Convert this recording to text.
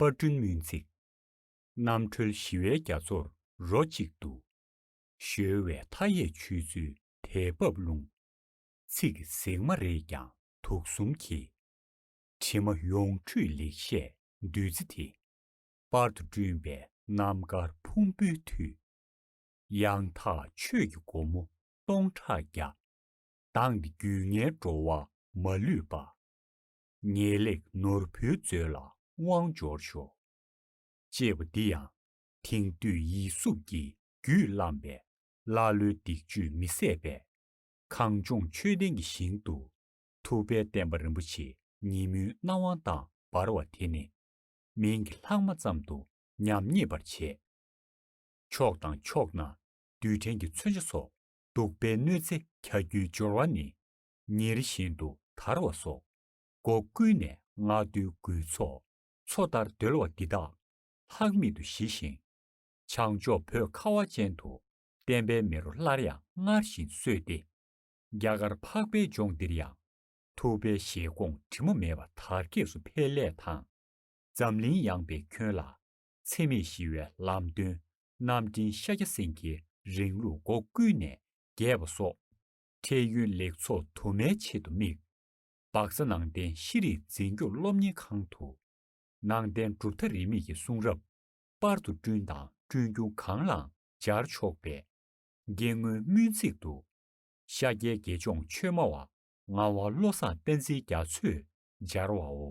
པར་སྐྲུན་སྨོན་ཚིག། རྣམ་གྲོལ་ཞི་བའི་རྒྱ་མཚོར་རོ་གཅིག་ཏུ། གཞོལ་བའི་མཐའ་ཡས་ཆོས་ཚུལ་དལ་འབབ་ཀླུང། ཚིག་ཟེགས་མ་རེད་ཀྱང་དུག་གསུམ་གྱི། དྲི་མ་ཡོངས་འཁྲུད་ལེགས་བཤད་བདུད་རྩི་དེ། པར་དུ་བསྐྲུན་པའི་རྣམ་དཀར་ཕུང་པོའི་མཐུས། ཡང་དག་ཆོས་ཀྱི་སྒོ་མོ་སྟོང་ཕྲག་བརྒྱ། གདངས་ཏེ་རྒྱུད་ལྔའི་འགྲོ་བ་མ་ལུས་པ། ངེས་ལེགས་ནོར་བུའི་མཛོད་ལ་དབང་འབྱོར་ཤོག། ཅེས་པ་འདི་ཡང་དེང་དུས་ཡིད་སྲུབས་ཀྱི་རྒྱུད་བརླམས་པའི་ཀླ་ཀློའི་སྡིག་བཅུད་མི་བསད་པའི། གངས་ལྗོངས་མཆོད་རྟེན་གྱི་ཞིང་དུ་ཐུབ་པའི་བསྟན་པ་རིན་པོ་ཆེ་ཉིན་མོའི་སྣང་བ་དང་འབར་བ་དེ་ནི། མིང་གི་ལྷག་མ་ཙམ་དུ་ཉམས་རྙེད་པར་བྱས། ཕྱོགས་དང་ཕྱོགས་ན་རྡུལ་ཕྲན་གྱི་མཚོན་ཆ་སོགས་གདུག་པའི་གནོད་འཚེ་གྱ་གྱུའི་སྦྱོར་བ་ནི། ཉེར་བཞིན་དུ་དར་བ་སོགས། སྒོ་ཀུན་ནས་སྔགས་བདུད་རྒུད་ཚོགས། མཚོ་ལྟར་རྡོལ་བ་འདི་དག། ལྷག་མེད་དུ་ཞི་ཞིང། བྱང་ཕྱོགས་བོད་ཁ་བ་ཅན་དུ། བསྟན་པའི་མེ་རོ་སླར་ཡང་སྔར་བཞིན་གསོས་ཏེ། རྒྱ་གར་འཕགས་པའི་ལྗོངས་འདིར་ཡང། ཐུབ་པའི་བཞེད་དགོངས་དྲི་མ་མེད་པ་དར་རྒྱས་སུ་འཕེལ་སླད་དང། འཛམ་གླིང་ཡངས་པའི་ཁྱོན་ལ། འཚེ་མེད་ཞི་བའི་ལམ་སྟོན། རྣམ་འདྲེན་ཤཱཀྱ་སེང་གེའི་རིང་ལུགས་སྒོ་ཀུན་ནས་རྒྱས་པ་སོགས། འཕྲལ་ཡུན་ལེགས་ཚོགས་དུ་མའི་ཆེད་དུ་དམིགས། སྦག་རྩ་ནང་བསྟན་ཤེས་རིག་འཛིན་སྐྱོང་སློབ་གཉེར་ཁང་དུ། ནང་བསྟན་གྲུབ་མཐའ་རིས་མེད་ཀྱི་གསུང་རབ། པར་དུ་བསྐྲུན་དང་བསྐྲུན་རྒྱུ་གང་ལའང་སྦྱར་ཆོག་པས། དགེ་བསྔོའི་སྨོན་ཚིག་ཏུ། ཤཱཀྱའི་དགེ་སྦྱོང་ཆོས་སྨྲ་བ། ངག་དབང་བློ་བཟང་བསྟན་འཛིན་རྒྱ་མཚོས་སྦྱར་བའོ།